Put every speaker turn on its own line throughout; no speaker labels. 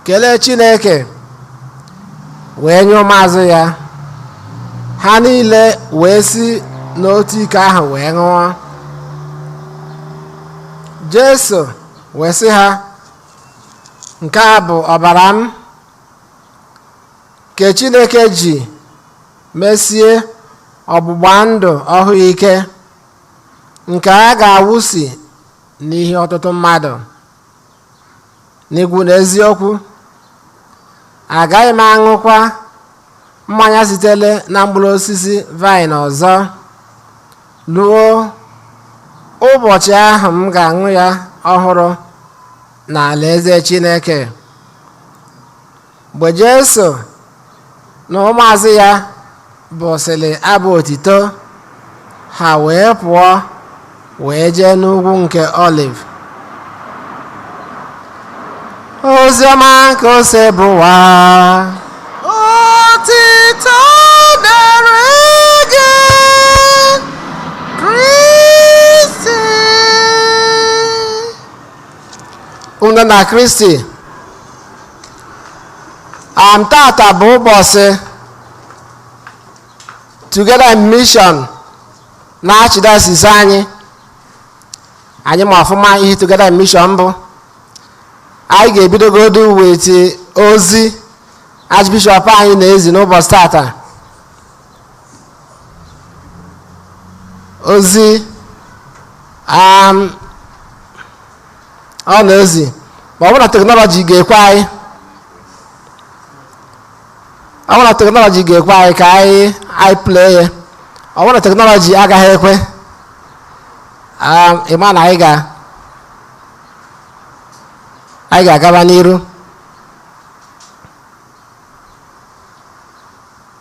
kelee chineke wee nye ụmụazụ ya ha niile wee si n'otu ike ahụ wee ṅụọ jesu wee sị ha nke a bụ ọbara m nke chineke ji mesie ọgbụgba ndụ ọhụụ ike nke a ga-awụsị n'ihi ọtụtụ mmadụ n'igwa unu eziokwu agaghị m aṅụkwa mmanya sitere na mkpụrụ osisi vaịn ọzọ ruo ụbọchị ahụ m ga-aṅụ ya ọhụrụ n'alaeze Chineke mgbe jesu na ụmụazụ ya bụsịrị abụ otito ha wee pụọ wee jee n'ugwu nke oliv oziọma nke osebụrụwa otito dịrị gị kristi ụmụnna na kristi and tata bụ ụbọsị together in mission na archdiocese anyị anyị ma ọfụma ihe together in mission bụ anyị ga-ebidogodo wete ozi archbishop anyị na-ezi n'ụbọsị tata ozi um, ọ na ozi ma ọ bụ na teknọlọji ga-ekwe anyị ọ bụ na teknọlọji ga-ekwe anyị ka anyị anyị play ya ọ bụ na teknọlọji agaghị ekwe um, ị ma na anyị ga anyị ga-agaba n'iru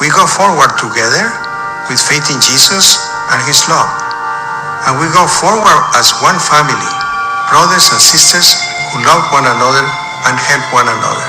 We go forward together with faith in Jesus and His love. And we go forward as one family, brothers and sisters who love one another and help one another.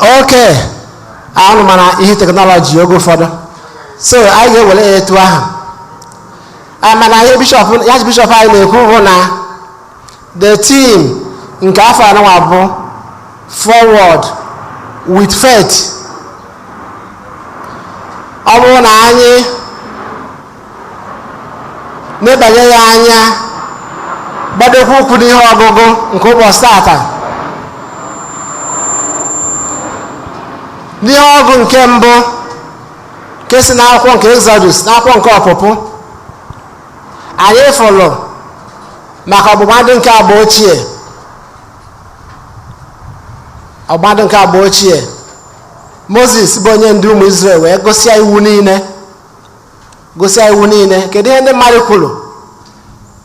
okay unu ma na ihe teknọlọji oge ụfọdụ so anyị ga-ewere ya etu ahụ Ah, mana ihe bishọp archbishop anyị na-ekwu bụ na the theme nke afọ anụnwa bụ forward with faith ọ bụrụ na anyị nebanye ya anya gbadokwa ụkwụ n'ihe ọgụgụ nke ụbọsị tata n'ihe ọgụgụ nke mbụ nke si n'akwụkwọ nke exodus n'akwụkwọ nke ọpụpụ anyị fụlụ maka ọgbụgba ndụ nke agba ochie ọgbụgba ndụ nke agba ochie moses bụ onye ndu ụmụ israel wee gụsịa iwu niile gụsịa iwu niile kedu ihe ndị mmadụ kwuru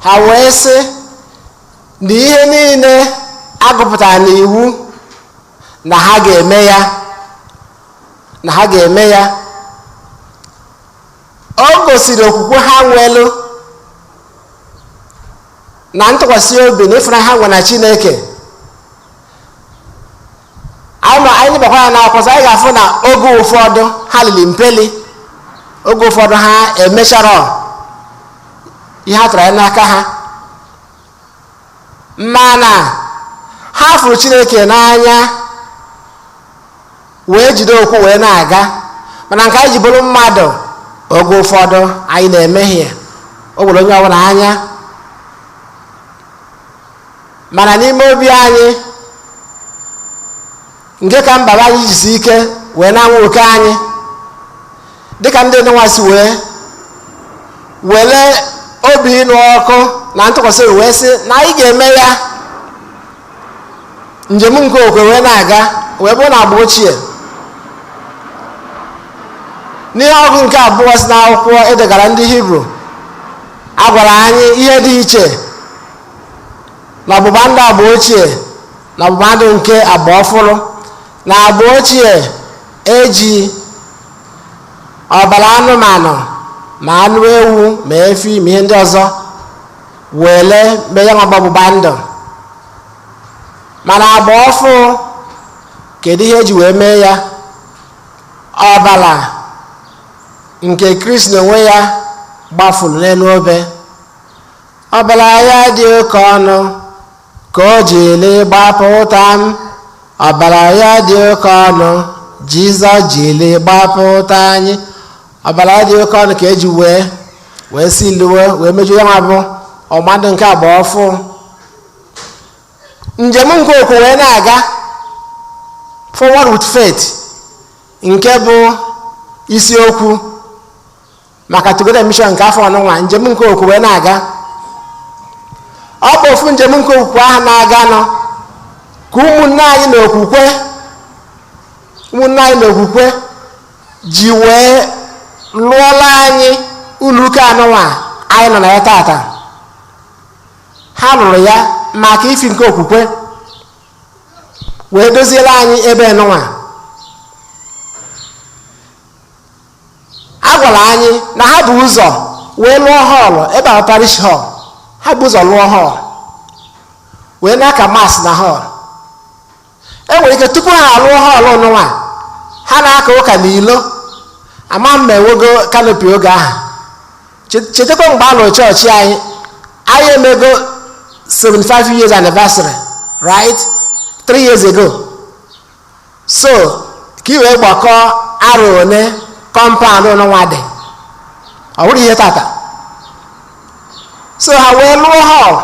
ha wee sị na ihe niile agụpụtara n'iwu na ha ga-eme ya o gosiri okwukwe ha nwelu na ntụkwasị obi na ịfụnanya ha nwe na chineke anyị ma anyị nebakwa anya n'akwụkwọ nsọ anyị ga-afụ na oge ụfọdụ ha lili mpeli oge ụfọdụ ha emecharọ ihe a tụrụ anya n'aka ha mana ha fụrụ chineke n'anya wee jide okwukwe na-aga mana nke anyị ji bụrụ mmadụ oge ụfọdụ anyị na-emehie o were onye ọbụla anya mana n'ime obi anyị nke ka mkpa bụ anyị jisi ike wee na-anwa oke anyị dịka ndị nụnwa si wee were obi ịnụ ọkụ na ntụkwasị obi wee sị na anyị ga-eme ya njem nke okwukwe na-aga wee bụrụ na agba ochie n'ihe ọgụgụ nke abụọ si n'akwụkwọ edegara ndị hibru a gwara anyị ihe dị iche na ọgbụgba ndụ agba ochie na ọgbụgba ndụ nke agba ọfụrụ na agba ochie eji ọbara anụmanụ ma anụ ewu ma efi ma ihe ndị ọzọ wele mee ya nwa bụ ọgbụgba ndụ mana agba ọfụụ kedu ihe eji wee mee ya ọbara nke kristi onwe ya gbafuru n'elu obe ọbara ya dị oke ọnụ ka o jiri gbapụta anyị ọbara ya dị oke ọnụ jizọs jiri gbapụta anyị ọbara ya dị oke ọnụ ka eji wee wee sealuo wee mejuo ya nwa bụ ọgbụgba ndụ nke agba ọfụụ njem nke okwukwe na-aga forward with faith nke bụ isiokwu maka Together Mission nke afọ a nụnwa njem nke okwukwe na-aga ọ bụ ofu njem nke okwukwe ahụ na-aganụ ka ụmụnne anyị na okwukwe ụmụnne anyị na okwukwe ji wee lụọlụ anyị ụlọụka a nụnwa anyị nọ na ya tata ha lụrụ ya maka ifi nke okwukwe wee doziere anyị ebe nụnwa a gwara anyị na ha bu ụzọ wee lụọ hall ebe ahụ parish hall ha bu ụzọ lụọ hall wee na-aka mass na hall e nwere ike tupu ha alụọ hall nụnwa ha na-aka ụka na ilo ama m ma enwego canopy oge ahụ Che- chetakwa mgbe a lụrụ chọọchị anyị anyị emego 75 years anniversary right 3 years ago so ka i wee gbakọọ arọ ole compound nụnwa dị ọ bụrọ ihe tata so ha wee lụọ hall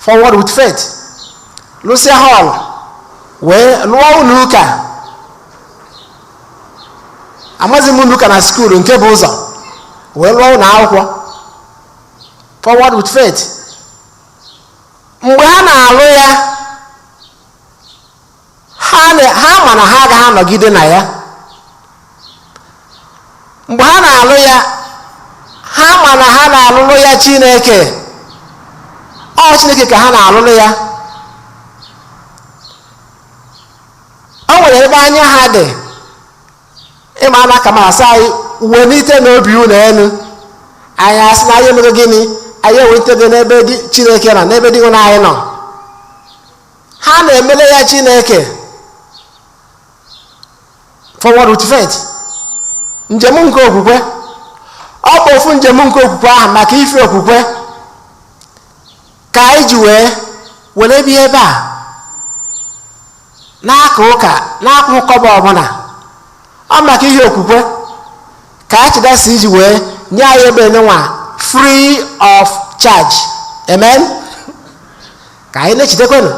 forward with faith lụsịa hall wee lụọ ụnọ ụka amazi m ụnọ ụka na school nke e bu ụzọ wee lụọ ụnọ akwụkwọ forward with faith mgbe ha na-alụ ya ha ma na ha agaghị anọgide na ya mgbe ha na-alụ ya ha ma na ha na-alụlụ ya chineke ọ chineke ka ha na-alụlụ ya o nwere ebe anya ha dị ị ma a na-aka mass a sị anyị welitenụ obi unu elu anyị asị na anyị emego gịnị anyị ewelitego n'ebe dị chineke nọ n'ebe dinwenụ anyị nọ ha na-emere ya chineke forward with faith njem nke okwukwe ọ bụ ofu njem nke okwukwe ahụ maka ife okwukwe ka anyị ji wee were bịa ebe a na-aka ụka na-akwụ kọbọ ọbụla ọ maka ihe okwukwe ka archdiocese ji wee nye anyị ebe nwa free of charge amen ka anyị na-echetakwanụ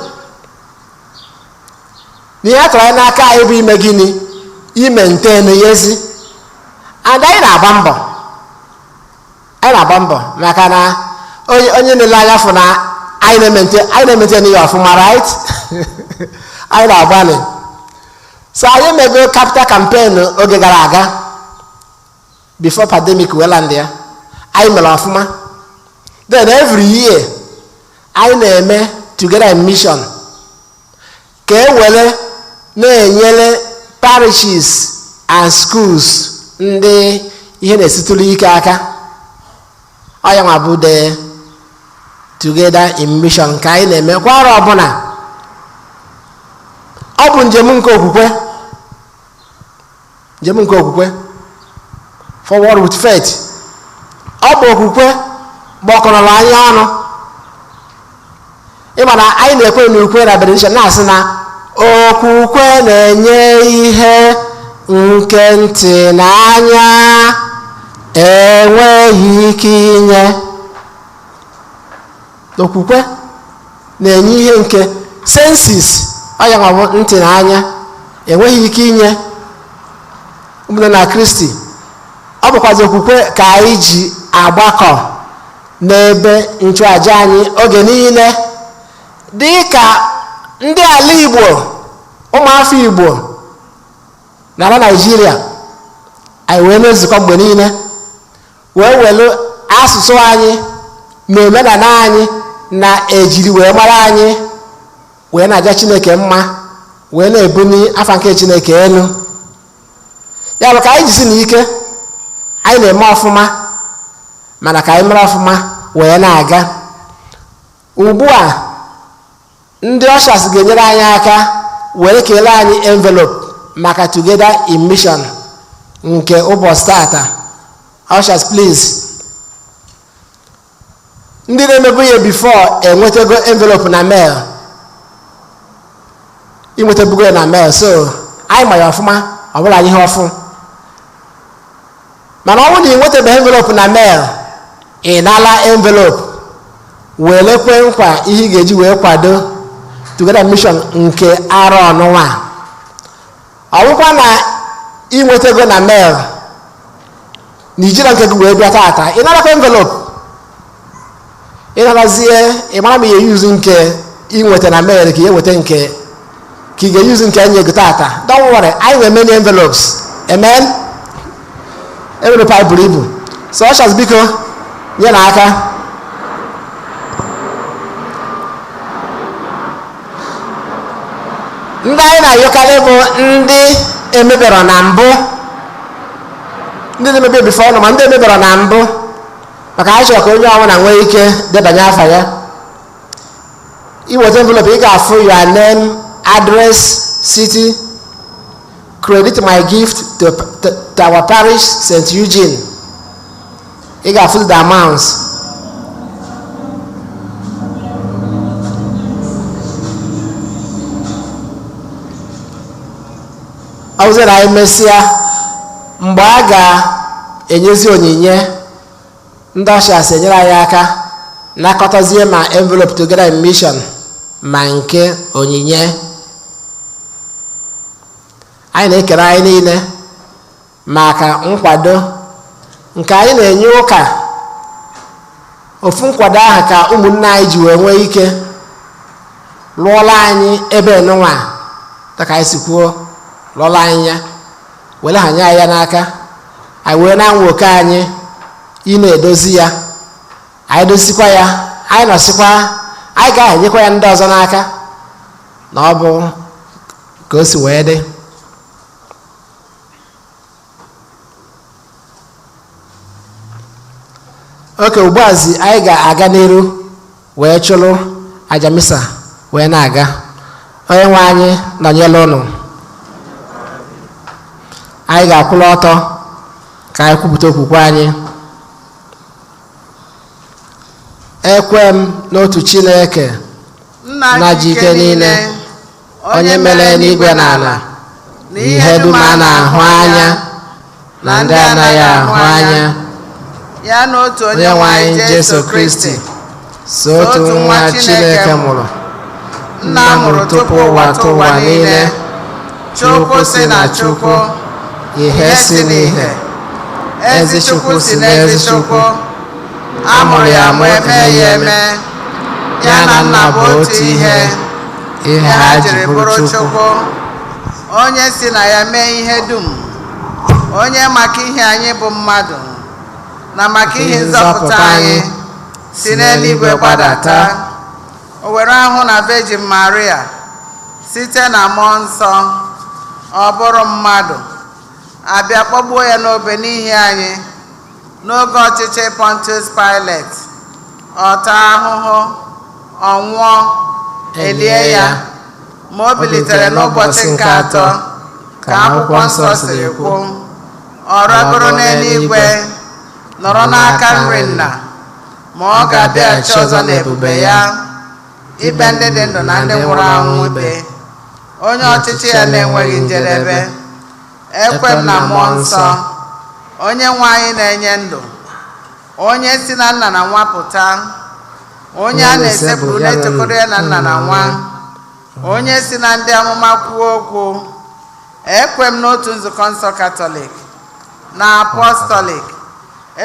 na ihe a tụrụ anya n'aka anyị bụ ime gịnị imaintain ya ezi and anyị na-agba mbọ anyị na-agba mbọ maka na onye onye na-ele anya afụ na anyị na-emaintain anyị na-emaintain ya ọfụma right anyị na-agbalị so anyị mego capital campaign oge gara aga before pandemic wee landịa anyị mere ọfụma then every year anyị na-eme together in mission ka e were na-enyere parishes and schools ndị ihe na-esitụrụ ike aka ọ ya nwa bụ the together in mission nke anyị na-eme kwa arọ ọbụla ọ bụ njem nke okwukwe njem nke okwukwe forward with faith ọ bụ okwukwe gbakọrọla anyị ọnụ ị ma na anyị na-ekwe na ukwe na benediction na-asị na okwukwe na-enye ihe nke ntị na anya enweghị ike inye okwukwe na-enye ihe nke senses ọ ya na ọ bụ ntị na anya enweghị ike inye ụmụnne na kristi ọ bụkwazi okwukwe ka anyị ji agbakọ n'ebe nchụaja anyị oge niile dị ka ndị ala igbo ụmụ afọ igbo n'ala naijiria anyị wee na-ezukọ mgbe niile wee welu asụsụ anyị na omenala anyị na ejiri wee mara anyị wee na-aja chineke mma wee na-ebuni afa nke chineke elu ya bụ ka anyị jisi na ike anyị na-eme ọfụma mana ka anyị mere ọfụma wee na-aga ugbu a Ndị ushers ga-enyere anyị aka were keelu anyị envelope maka Together in Mission nke ụbọchị tata. Ushers please. Ndị na-emebu ya before enwetago envelope na mail. Ị nwetabugo ya na mail so anyị ma ya ọfụma ọ bụrọ anyị ihe ọfụụ. mana ọ bụrụ na ị nwetabeghị envelope na mail ị nala envelope welu kwe nkwa ihe ị ga-eji wee kwado Together Mission nke arọ nụnwa ọ bụkwa na ị nwetago na mail na i jirọ nke gị wee bịa tata ị nalakwa envelope ị narazie ị mara ma ị ga-e-use nke ị nweta na mail ka ị ga-enweta nke ka ị ga-e-use nke anyị ego tata don't worry anyị nwere many envelopes amen envelope anyị buru ibu so ushers biko nyenụ aka ndị anyị na-ayọkarị bụ ndị emeberọ na mbụ ndị na-emebu before ọnụ ma ndị emeberọ na mbụ maka anyị chọrọ ka onye ọbụla nwee ike debanye afa ya ị nweta envelope ị ga-afụ your name address city credit my gift to, to, to our parish st eugene ị ga-afụ the amounts ọ bụzị na anyị mesịa mgbe a ga-enyezi onyinye ndị ushers enyere anyị aka nakọtazie ma envelope together in mission ma nke onyinye anyị na-ekere anyị niile maka nkwado nke anyị na-enye ụka ofu nkwado ahụ ka ụmụnne anyị ji wee nwee ike lụọlụ anyị ebe nụnwa dịka anyị si kwuo lụọlụ anyị ya were hanye anyị ya n'aka anyị wee na-anwa oke anyị ịna-edozi ya anyị dozikwa ya anyị nọsịkwa anyị ga-ahanyekwa ya ndị ọzọ n'aka na ọ bụ ka o si wee dị okay ugbuazi anyị ga-aga n'iru wee chụrụ aja misa wee na-aga onye nwe anyị nọnyere ụnụ anyị ga-akwụrụ ọtọ ka anyị kwupụta okwukwe anyị ekwe m n'otu chineke nna ji ike niile onye mere eluigwe na ala na ihe dum a na-ahụ anya na ndị anaghị ahụ anya ya na otu onye nwe anyị jesu kristi sọ otu nwa chineke mụrụ nna mụrụ tupu ụwatụwa niile chukwu si na chukwu ihe si n'ihe ezi chukwu si n'ezi chukwu a mụrụ ya amụ emeghị ya eme ya na nna bụ otu ihe ihe ha jiri bụrụ Chukwu onye e si na ya mee ihe dum onye maka ihi anyị bụ mmadụ na maka ihi nzọpụta anyị si n'eluigwe gbadata o were ahụ na Virgin Maria site na mmụọ nsọ ọ bụrụ mmadụ a bịa kpọgbuo ya n'obe n'ihi anyị N'oge ọchịchị Pontius Pilate, ọ taa ahụhụ, ọ nwụọ, e lie ya, ma o bilitere n'ụbọchị nke atọ, ka akwụkwọ nsọ siri kwu. Ọ rịgoro n'eluigwe, nọrọ n'aka nri Nna, ma ọ ga-abịaghachi ọzọ n'ebube ya, ikpe ndị dị ndụ na ndị nwụrụ anwụ ikpe, onye ọchịchị ya na-enweghị njedebe. ekwe m na mmụọ nsọ onye nwe anyị na-enye ndụ onye si na nna na nwa pụta onye a na-esekpuru na-etokọrọ ya na nna na nwa onye si na ndị amụma kwuo okwu ekwe m n'otu nzukọ nsọ katọlik na apọstọlik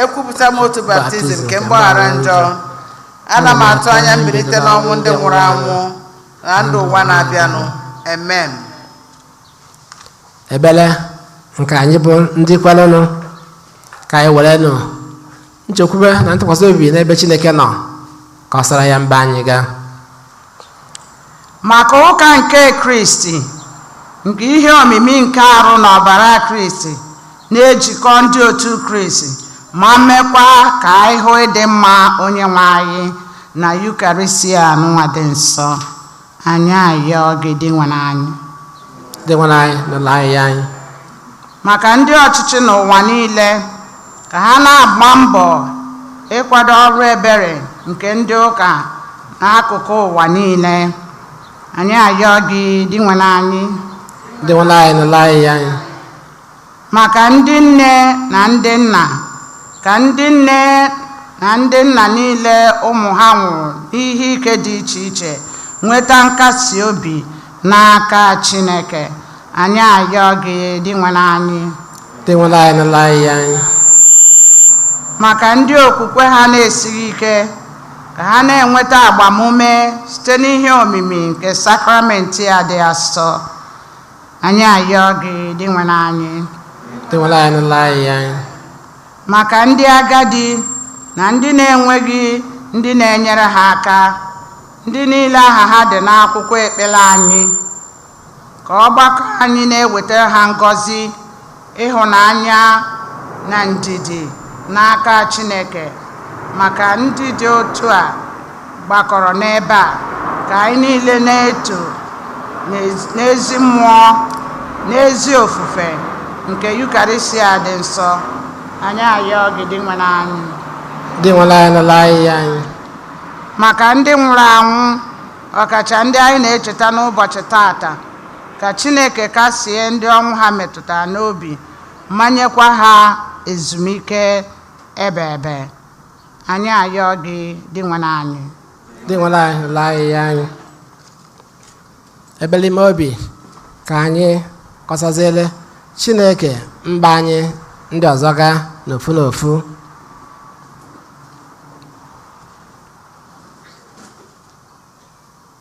ekwupụta m otu baptizim nke mgbaghara njọ ana m atụ anya mbilite n'ọnwụ ndị nwụrụ anwụ na ndụ ụwa na-abịanụ amen ekpere nke anyị bụ ndị kwerenụ ka anyị werenụ nchekwube na ntụkwasị obi n'ebe chineke nọ kọsara ya mkpa anyị ga maka ụka nke kristi nke ihe omimi nke arụ na ọbara kristi na-ejikọ ndị otu kristi ma mekwa ka anyị hụ ịdị mma onye nwe anyị na yukarịsịa nụnwa dị nsọ Anyị ayọọ gị Dinwenụ anyị. Dinwenụ anyị nụlụ ayịyọ anyị. Maka ndị ọchịchị n'ụwa niile ka ha na-agba mbọ ịkwado ọrụ ebere nke ndị ụka n'akụkụ ụwa niile. Anyị ayọọ gị Dinwenụ anyị. Dinwenụ anyị nụlụ ayịyọ anyị. Maka ndị nne na ndị nna, ka ndị nne na ndị nna niile ụmụ ha nwụrụ n'ihe ike dị iche iche nweta nkasi obi n'aka Chineke, anyị ayọ gị Dinwenụ anyị. Dinwenụ anyị nụlụ ayịyọ anyị. Maka ndị okwukwe ha na-esighị ike, ka ha na-enweta agbamume site n'ihe omimi nke sakramenti a dị asọ, Anyị ayọọ gị Dinwenụ anyị Dinwenụ anyị nụlụ ayịyọ anyị. maka ndị agadi na ndị na-enweghị ndị na-enyere ha aka ndị niile aha ha dị n'akwụkwọ ekpere anyị ka ọgbakọ anyị na-ewetara ha ngọzi Ịhụnanya na ndidi n'aka Chineke maka ndị dị otu a gbakọrọ n'ebe a ka anyị niile na-eto n'ezi mmụọ n'ezi ofufe nke Yukarịsịa dị nsọ anyị ayọọ gị Dinwenụ anyị Dinwenụ anyị nụlụ ayịyọ anyị. maka ndị nwụrụ anwụ ọkacha ndị anyị na-echeta n'ụbọchị tata Ka Chineke kasie ndị ọnwụ ha metụtara obi ma nyekwa ha ezumike ebeebe. Anyị ayọọ gị Dinwenụ anyị. Dinwenụ anyị nụlụ ayịyọ anyị. Ekpele ime obi ka anyị kọsaziere Chineke mkpa anyị ndị ọzọ ga n'ofu n'ofu.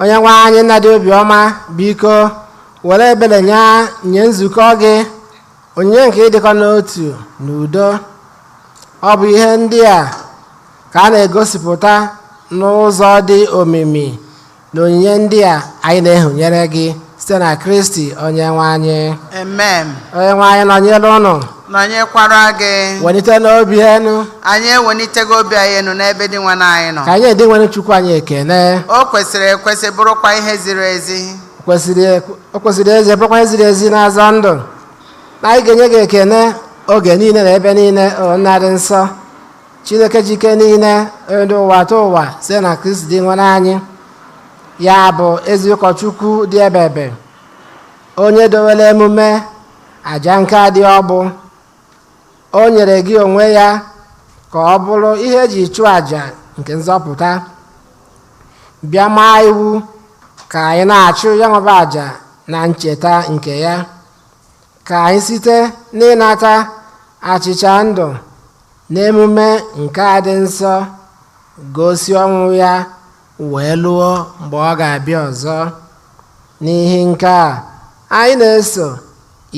onye nwe anyị nna dị obiọma biko were ebere nye nye nzukọ gị onyinye nke ịdịkọ n'otu na udo ọ bụ ihe ndị a ka a na-egosipụta n'ụzọ dị omimi na onyinye ndị a anyị na-ehunyere gị site na Kristi Onyenwe anyị amen Onyenwe anyị nọnyere ụnụ nọnyekwara gị welitenụ obi enu anyị ewelitego obi anyị enu n'ebe Dinwenụ anyị nọ ka anyị nye Dinwenụ Chukwu anyị ekene o kwesịrị ekwesị bụrụkwa ihe ziri ezi o kwesịrị ekwe- o kwesịrị ezi bụrụkwa ihe ziri ezi na-azọ ndụ na anyị ga-enye gị ekene oge niile na ebe niile o nna dị nsọ chineke ji ike niile onye dị ụwatụwa site na kristi dinwenụ anyị ya bụ ezi ụkọchukwu dị ebebe onye dowere emume aja nke dị ọkpụ o nyere gị onwe ya ka ọ bụrụ ihe eji chụọ aja nke nzọpụta bịa maa iwu ka anyị na-achụ ya nwa bụ aja na ncheta nke ya ka anyị site n'ịnata achịcha ndụ N'emume nke a dị nsọ, gosi ọnwụ ya wee luo mgbe ọ ga-abịa ọzọ. N'ihi nke a, anyị na-eso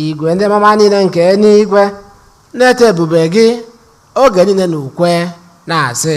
igwe ndị mmụọ ọma niile nke eluigwe na-eto ebube gị oge niile n'ukwe, na-asị.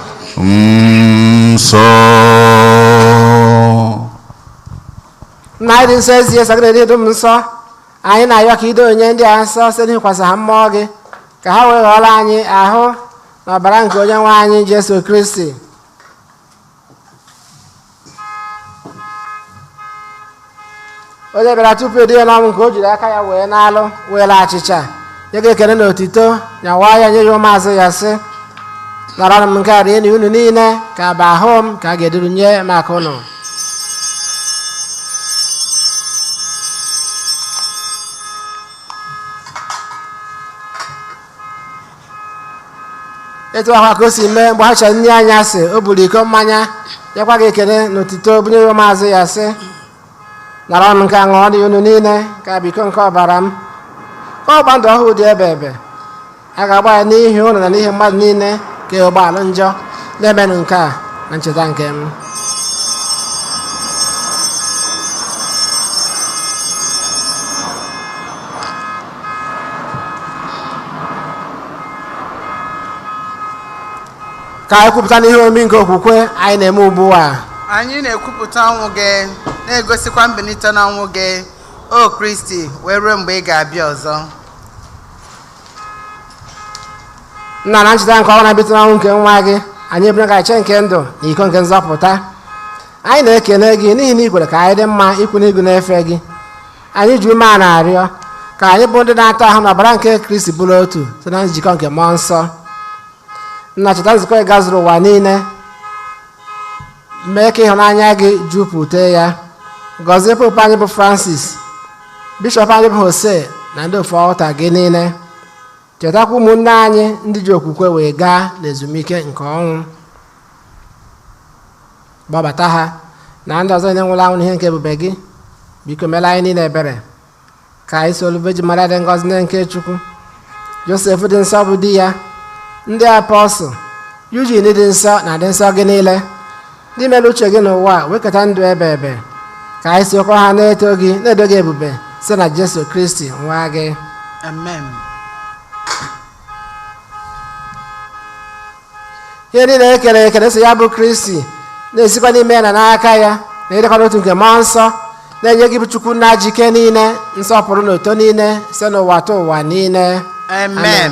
nsọ nna anyị ị dị nsọ ezie sọ gị na-edo ihe dum nsọ anyị na-ayọ ka i doo onyinye ndị a nsọ site n'ikwasa ha mmụọ gị ka ha wee ghọọrọ anyị ahụ na ọbara nke onye nwe anyị Jesu Kristi onye bịara tupu e duo ya n'ọnwụ nke o jiri aka ya wee nalụ were achịcha nye gị ekele na otito nyawa ya nye ya ụmụazụ ya sị naranụ nke a rienụ unu niile nke a bụ ahụ m nke a ga-eduru nye maka unu etu ahụ ka o si mee mgbe ha richara nri anyasị o buru iko mmanya nyekwa gị ekele na otito bunye ya ụmụazụ ya sị naranụ nke a ṅụọnụ unu niile nke a bụ iko nke ọbara m nke ọgba ndụ ọhụụ dị ebebe a ga-agba ya n'ihi unu na n'ihi mmadụ niile ka e wee gbaghalụ njọ na-emenụ nke a na ncheta nke m ka anyị kwupụtanụ ihe omimi nke okwukwe anyị na-eme ugbu a anyị na-ekwupụta ọnwụ gị na-egosikwa mbilite n'ọnwụ gị o kristi wee ruo mgbe ị ga-abịa ọzọ nna na ncheta nke ọnwụ na mbilite n'ọnwụ nke nwa gị anyị ebunye gị achịcha nke ndụ na iko nke nzọpụta anyị na-ekele gị n'ihi na ị kwere ka anyị dị mma ịkwụ n'ihu gị na-efe gị anyị ji umeana arịọ ka anyị bụ ndị na-anata ahụ na ọbara nke kristi bụrụ otu site na njikọ nke mmụọ nsọ nna cheta nzukọ gị gazuru ụwa niile mee ka ịhụnanya gị jupụta ya gọzie popu anyị bụ francis bishọp anyị bụ jose na ndị ofu altar gị niile chetakwa ụmụnne anyị ndị ji okwukwe wee gaa n'ezumike nke ọnwụ kpọbata ha na ndị ọzọ niile nwụrụ anwụ n'ihe nke ebube gị biko meela anyị niile ebere ka anyị solu Virgin Maria dị ngọzi nne nke Chukwu Josef dị nsọ bụ di ya ndị apọstụl Eugene dị nsọ na ndị nsọ gị niile ndị mere uche gị n'ụwa a wee keta ndụ ebebe ka anyị sokwa ha na-eto gị na-edo gị ebube site na jesu kristi nwa gị amen ihe niile e kere ekere so ya bụ kristi na-esikwa n'ime ya na n'aka ya na ịdịkọ n'otu nke mmụọ nsọ na-enye gị bụ chukwu nna ji ike niile nsọpụrụ na otito niile site n'ụwatụwa niile amen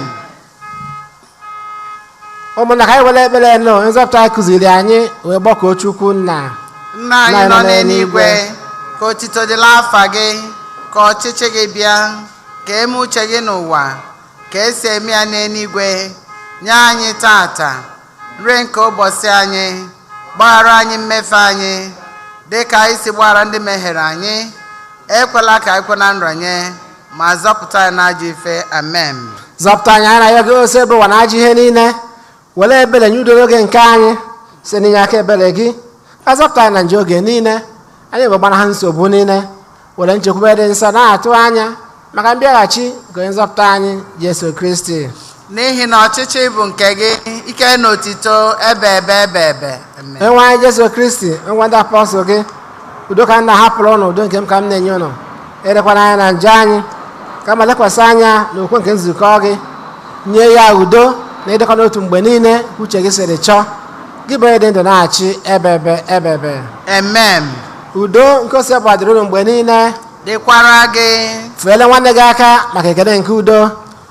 ụmụnna ka anyị were ekpere onye nzọpụta anyị kụziiri anyị wee kpọkuo chukwu nna nna anyị nọ n'eluigwe ka otito dịla afa gị ka ọchịchị gị bịa ka e mee uche gị n'ụwa ka e si eme ya n'eluigwe nye anyị tata nri nke ụbọchị anyị gbaghara anyị mmefe anyị dị ka anyị si gbaghara ndị mehiere anyị ekwela ka anyị kwe na nranye ma zọpụta anyị n'ajọ ife amen zọpụta anyị anyị na-ayọ gị osebụrụwa na ajọ ihe niile were ebere nye udo n'oge nke anyị site n'inye aka ebere gị ka a zọpụta anyị na njọ oge niile anyị wee gbanaha nsogbu niile were nchekwube dị nsọ na-atụ anya maka mbịaghachi nke onye nzọpụta anyị jesu kristi n'ihi na ọchịchị bụ nke gị ike na otito ebebe ebebe Amen. onyenwe anyị jesu kristi ị gwara ndị apọstụl gị udo ka m na-ahapụrụ ụnụ udo nke m ka m na-enye ụnụ elekwana anya na njọ anyị kama lekwasị anya na okwukwe nke nzukọ gị nye ya udo na ịdịkọ n'otu mgbe niile ka uche gị siri chọọ gị bụ onye dị ndụ na-achị ebebe ebebe Amen. udo nke osebụrụwa dịrị ụnụ mgbe niile dịkwara gị feele nwanne gị aka maka ekele nke udo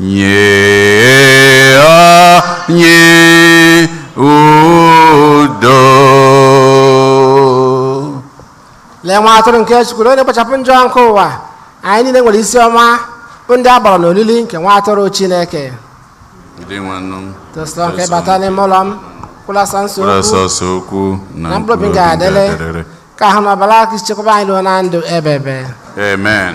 Nye anyị udo. lee nwa atụrụ nke chukwu na onye na-ekpochapụ njọ nke ụwa anyị niile nwere isi ọma bụ ndị a kpọrọ n'olili nke nwa atụrụ chineke Dinwenụ etosirọ m ka ị bata n'ime ụlọ m kwụlasa kwuo sọọsọ okwu na na mkpụrụ obi m ga-adịrị ga-adịrị. ka ahụ na ọbara kristi chekwaba anyị ruo na ndụ ebebe Amen.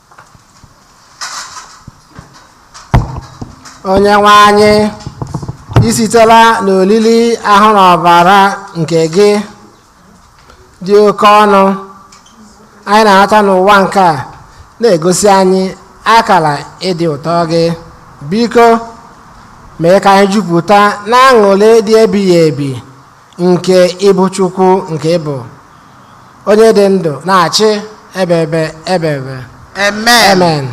onye nwe anyị i sitela n'olili ahụ na ọbara nke gị dị oke ọnụ anyị na-anata n'ụwa nke a na-egosi anyị akala ịdị ụtọ gị biko mee ka anyị jupụta n'aṅụlị dị ebighị ebi nke ị bụ Chukwu nke ị bụ onye dị ndụ na-achị ebebe ebebe Amen. amen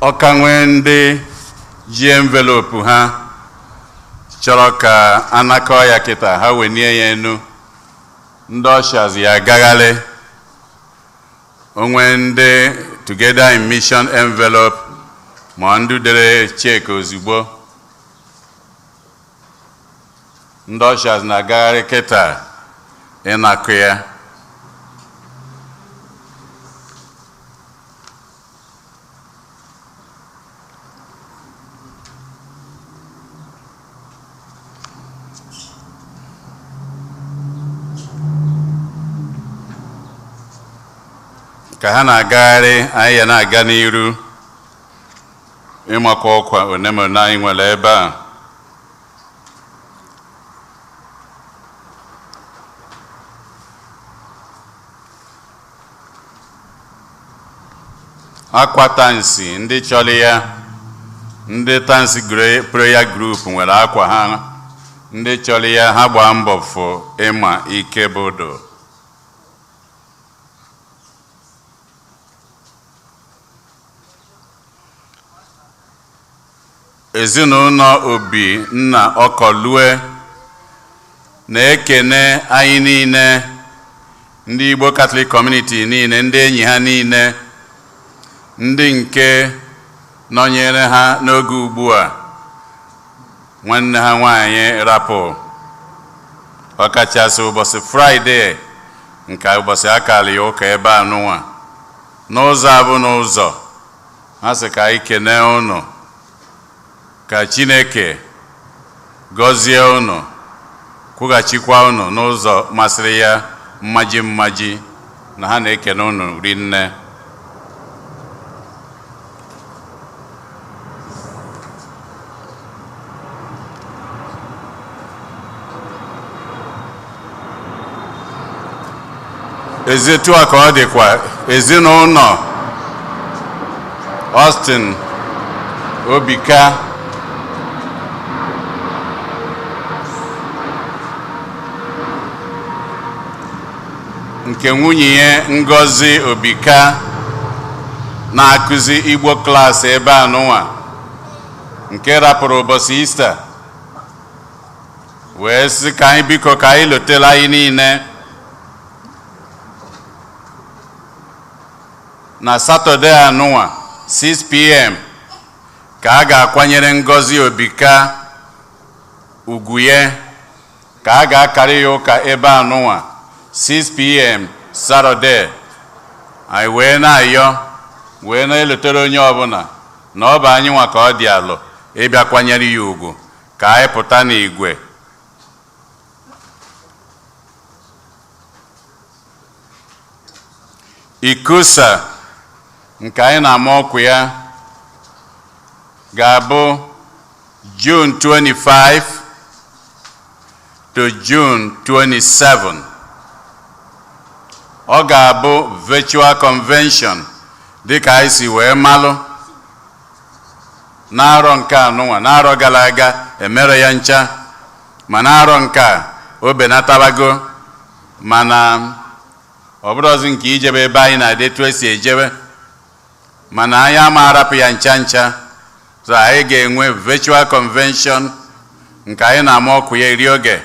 ọ ka nwee ndị ji envelope ha chọrọ ka a nakọọ ya kịta ha wenie ya enu ndị ushers ya-agagharị o nwee ndị Together in Mission envelope ma ndị dere check ozugbo ndị ushers na-agagharị kịta ịnakọ ya ka ha na-agagharị anyị ya na-aga n'iru ịmakwa ọkwa one ma one anyị nwere ebe a akwa Tansi ndị chọrọ ya ndị Tansi gre- prayer group nwere akwa ha ndị chọrọ ya ha gbaa mbọ fụ Ịma Ikebodo Ezinụlọ Obinna Okolue na-ekene anyị niile, ndị Igbo Catholic Community niile, ndị enyi ha niile, ndị nke nọnyere ha n'oge ugbu a, nwanne ha nwanyị rapụ ọkachasị ụbọsị Friday nke ụbọsị a kara ya ụka ebe anụnwa n'ụzọ abụ n'ụzọ ha sị ka anyị kenee ụnụ ka Chineke gọzie ụnụ kwụghachikwa ụnụ n'ụzọ masịrị ya mmaji mmaji na ha na-ekene ụnụ rinne ezi etu a ka ọ dịkwa ezinụnọ Austin Obika nke nwunye ya Ngozi Obika na-akụzi Igbo klaasị ebe a nụnwa nke rapụrụ ụbọsị ista wee sị ka anyị biko ka anyị lotela anyị niile na satọde anụnwa 6 pm ka a ga-akwanyere ngozi obika ugwu ya ka a ga-akarị ya ụka ebe a nụnwa 6pm satọde anyị wee na-ayọ wee na-elotere onye ọbụna na ọ bụ anyị nwa ka ọ dị alụ ịbịa kwanyere ya ugwu ka anyị pụta n'igwe ICCUSA nke anyị na-ama ọkụ ya ga-abụ June 25 to June 27 ọ ga-abụ virtual convention dịka anyị si wee malụ n'arọ nke anụnwa n'arọ gala aga emerọ ya ncha ma n'arọ nke a o benatabago mana ọ bụrọzi nke ijebe ebe anyị na-adị etu esi ejebe mana anyị ama arapụ ya ncha ncha so anyị ga-enwe virtual convention nke anyị na-ama ọkụ ya eri oge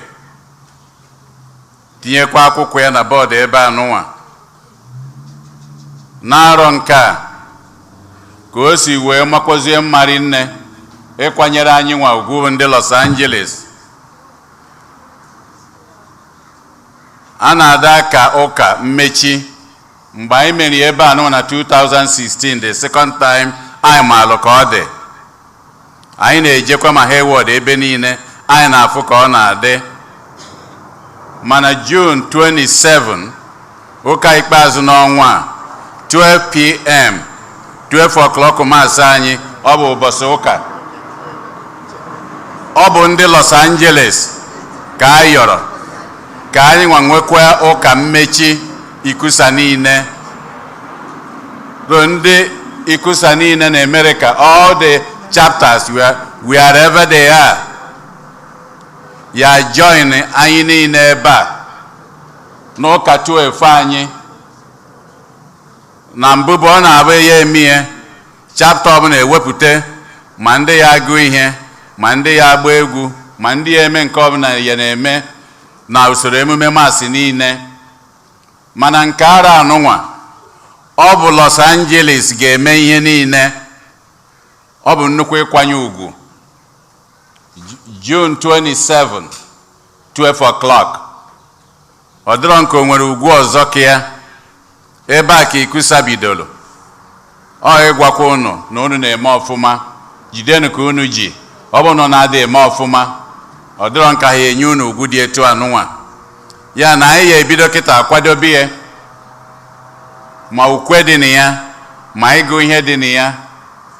tinyekwa akwụkwọ ya na bọọdụ ebe a nụnwa n'arọ nke a ka o si wee makwazie mma rinne ịkwanyere anyị nwa ugwu ndị Los Angeles a na-adị aka ụka mmechi mgbe anyị mere ebe a nụ na 2016 the second time anyị maalụ ka ọ dị anyị na-ejekwa ma Hayward ebe niile anyị na-afụ ka ọ na-adị mana June 27 Ụka ikpeazụ n'ọnwa a, 12pm, 12 o'clock Mass anyị, ọ bụ ụbọsị ụka. Ọ bụ ndị Los Angeles ka a yọrọ ka anyị nwa nwekwa ụka mmechi ICCUSA niile bụ ndị ICCUSA niile na America all the chapters wherever they are ya join anyị niile ebe a n'ụka chụọ efe anyị na mbụ bụ ọ na-abụ ya eme ihe chapta ọbụla ewepụta ma ndị ya agụ ihe ma ndị ya agba egwu ma ndị ya eme nke ọbụla ya na-eme na usoro emume Mass niile mana nke arọ anụnwa ọ bụ Los Angeles ga-eme ihe niile ọ bụ nnukwu ịkwanye ugwu June 27 12 o'clock ọ dịrọ m ka o nwere ugwu ọzọ ka ya ebe a ka ICCUSA bidoro ọ ịgwakwa unu na unu na-eme ọfụma jidenu ka unu ji ọ bụ na unu adị eme ọfụma ọ dịrọ m ka ha enye unu ugwu dị etu anụnwa ya na anyị ya ebido kịta akwadobe ya ma ukwe dị na ya ma ịgụ ihe dị na ya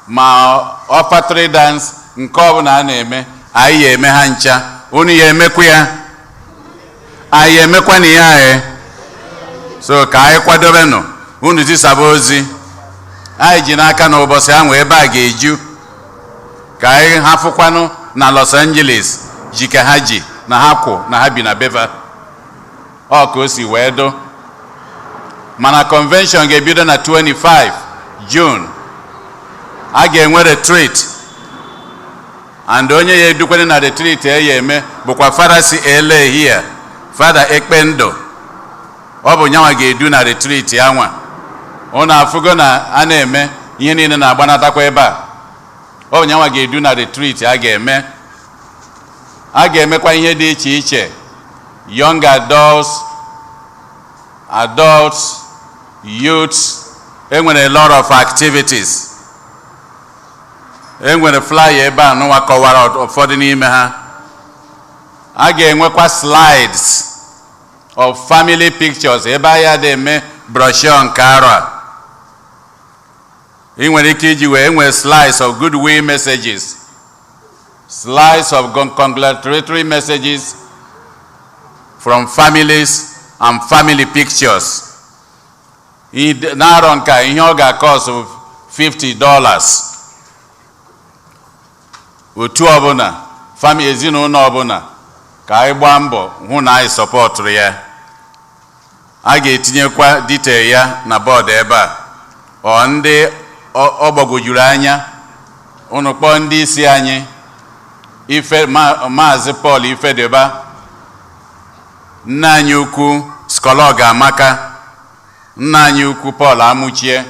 ma offertory dance nke ọbụla a na-eme anyị ya eme ha ncha unu ya emekwa ya anyị ya emekwanụ ya so ka anyị kwadobenụ unu zisaba ozi anyị ji n'aka na ụbọchị ahụ ebe a ga-eju ka anyị ha fụkwanụ na Los Angeles ji ka ha ji na ha kwụ na ha bi na beva ọ ka o si wee dụ mana convention ga-ebido na 25 June a ga-enwe retreat and onye ya edukwanụ na retreat e ya eme bụkwa fada si LA here fada Ekpendụ ọ bụ nyanwa ga-edu na retreat anwa ụnụ afụgo na a na-eme ihe niile na-agbanatakwa ebe a ọ bụ nyanwa ga-edu na retreat a ga-eme A ga-emekwa ihe dị iche iche young adults, adults, youths, enwere a lot of activities. Enwere flyer ebe anụnwa kọwara ụfọdụ n'ime ha. A ga-enwekwa slides of family pictures ebe a ya adị eme brochure nke arọ a. Ị nwere ike iji wee nwee slides of goodwill messages Slides of congratulatory messages from families and family pictures. N'arọ nke a ihe ọ ga-cost 50 dollars. Otu ọbụla, fami ezinụlọ ọbụla ka anyị gbaa mbọ hụ na anyị supportụrụ ya. a ga-etinyekwa detail ya na bọọdụ ebe a or ndị ọ gbagwojuru anya ụnụ kpọọ ndị isi anyị ife maazị Paul Ifediba nne anyị ukwu Schola Ogomaka nna anyị ukwu Paul Amuchie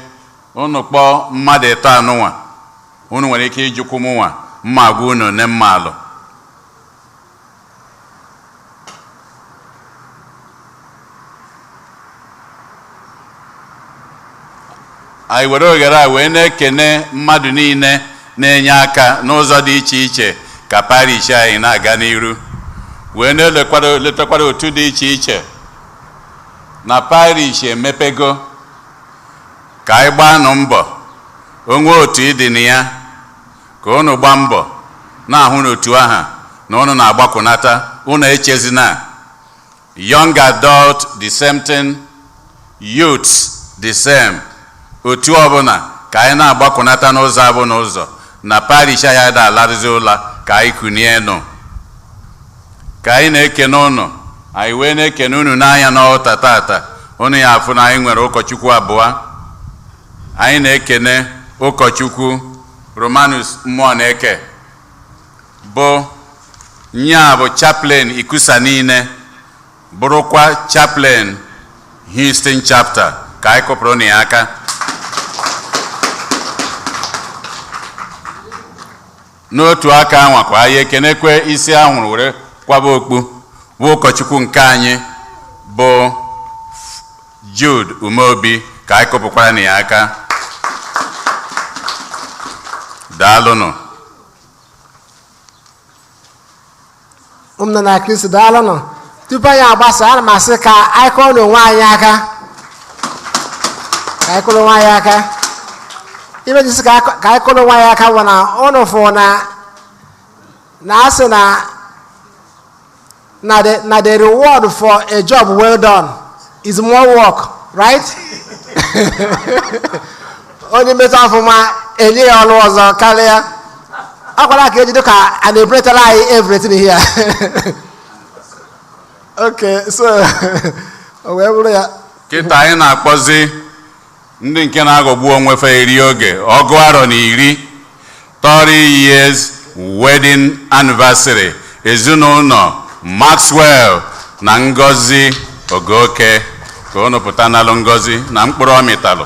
ụnụ kpọọ mmadụ ịtọ anụnwa unu nwere ike ịjụkwu mụnwa m ma agwa unu nke m maalụ anyị were oghere a wee na-ekene mmadụ niile na-enye aka n'ụzọ dị iche iche ka parish anyị na-aga n'iru wee na-elotakwara otu dị iche iche na parish emepego ka anyị gbaanụ mbọ o nwee otu ị dị na ya Ka unu gbaa mbọ na-ahụ n'otu ahụ na unu na-agbakwunata, unu echezina. Young adult the same thing, youths the same. Otu ọbụla ka anyị na-agbakwunata n'ụzọ bụ n'ụzọ na parish anyị ada alarụzi ụla ka anyị kunie nụ. Ka anyị na-ekene unu, anyị wee na-ekene unu nee anya n'altar tata, unu ya-afụ na anyị nwere ụkọchukwu abụọ. anyị na-ekene ụkọchukwu Romanus Muoneke bụ nya bụ chaplain ICCUSA niile bụrụkwa chaplain houston chapter ka anyị kụpụrụnụ ya aka n'otu aka anwakwa anyị ekenekwe isi a hụrụ were kwaba okpu bụ ụkọchukwu nke anyị bụ Jude Umeobi ka anyị kụpụkwaranụ ya aka daalụnụ ụmụnna na kristi daalụnụ tupu anyị agbasa ana m asị ka anyị kụrụnụ onwe anyị aka ka anyị kụrụ onwe anyị aka ife m ji sị ka akụ- ka anyị kụrụ onwe anyị aka bụ na ụnụ fụ na a na-asị na na the na the reward for a job well done is more work right onye metụ ọfụma e nye ya ọrụ ọzọ karịa akwara ka ejido ka a na-ebretara anyị everything here okay so o wee bụrụ ya kịta anyị na-akpọzi Ndị nke na-aghọgbu onwe fa eri oge ọgụ arọ na iri 30 years wedding anniversary ezinụlọ Maxwell na Ngozi Ogoke ka unu pụta nalụ ngọzi na mkpụrụ ọ mịtalụ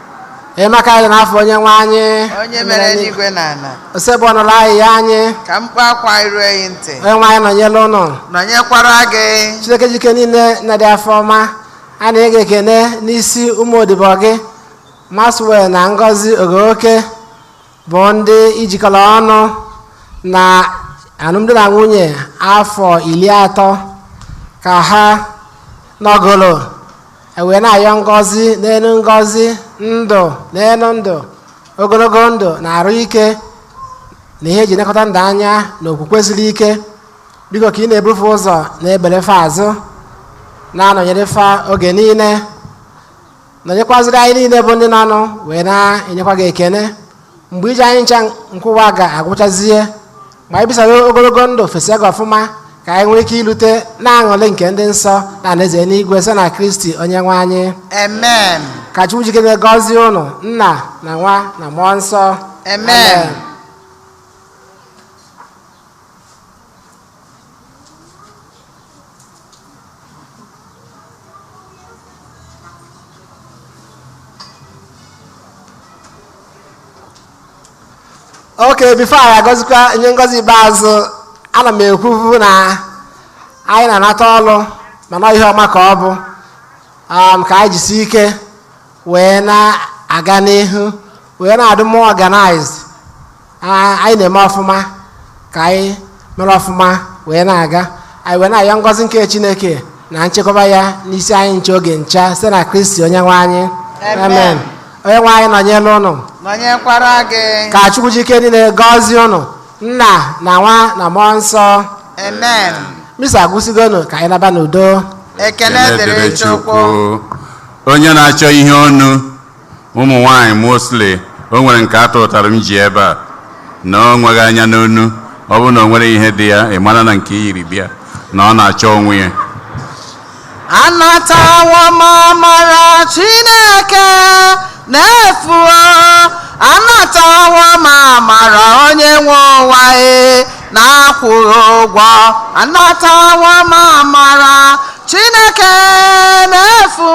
Enyemaka anyị dị n'afa onye nwe anyị. Onye mere eluigwe na ala. Osebụrụwa nụrụ ayịyọ anyị. Ka mkpu akwa anyị rue gị ntị. Onye nwe anyị nọnyere ụnụ. Nọnyekwara gị. Chineke ji ike niile nna dị afọ ọma. A na-enye gị ekene n'isi ụmụ odibo gị. Maxwell na Ngozi Ogoke bụ ndị i jikọrọ ọnụ na alụmdi na nwunye afọ iri atọ ka ha nọgoro ewee na-ayọ ngọzi n'elu ngọzi ndụ n'elu ndụ ogologo ndụ na arụ ike na ihe e ji enekọta ndụ anya na okwukwe siri ike biko ka ị na-eburu fa ụzọ na-ekpere fa azụ na-anọnyere fa oge niile nọnyekwaziri anyị niile bụ ndị nọ ọnụ wee na-enyekwa gị ekene mgbe ije anyị ncha nke ụwa ga-agwụchazie ma anyị bisara ogologo ndụ fesịa gị ọfụma ka anyị nwee ike ilute n'aṅụrị nke ndị nsọ na alaeze eluigwe site na kristi onye nwe anyị Amen. ka chukwu ji ike niile gọzie ụnụ nna na nwa na mmụọ nsọ Amen. okay before anyị agọzikwa nye ngọzi ikpeazụ ana m ekwuvu na anyị na-anata ọrụ mana ihe ọma ka ọ bụ um, ka anyị jisi ike wee na-aga n'ihu wee na-adị more organized A- anyị na-eme ọfụma ka anyị mere ọfụma wee na-aga anyị wee na-ayọ ngọzi nke chineke na nchekwaba ya n'isi anyị ncha oge ncha site na kristi onye nwe anyị Amen. onye nwe anyị nọnyere ụnụ nọnyekwara gị ka chukwu ji ike niile gọzie ụnụ nna na nwa na mmụọ nsọ amen misa agwụsịgo nụ ka anyị naba n'udo ekele dịrị chukwu onye na-achọ ihe onu ụmụ nwaanyị mostly o nwere nke a tụụtara m ji ebe a nee onwe gị anya n'onu ọ bụrụ na o nwerọ ihe dị ya ị mara na nke i yiri bịa na ọ na-achọ onye nwe ya anatawo m amara chineke n'efu anatawo m amara onye nwe ụwa e n'akwụghị ụgwọ anatawo m amara chineke n'efu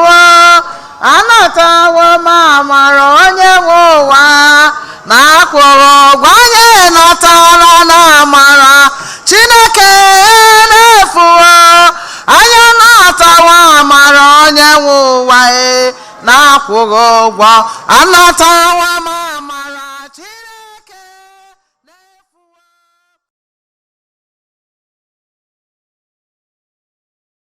anatawo m amara onye nwe ụwa na akwụghị ụgwọ anyị natara na amara chineke n'efu o anyị anatawo amara onye nwe ụwa e na akwụghị ụgwọ anatawo m amara chineke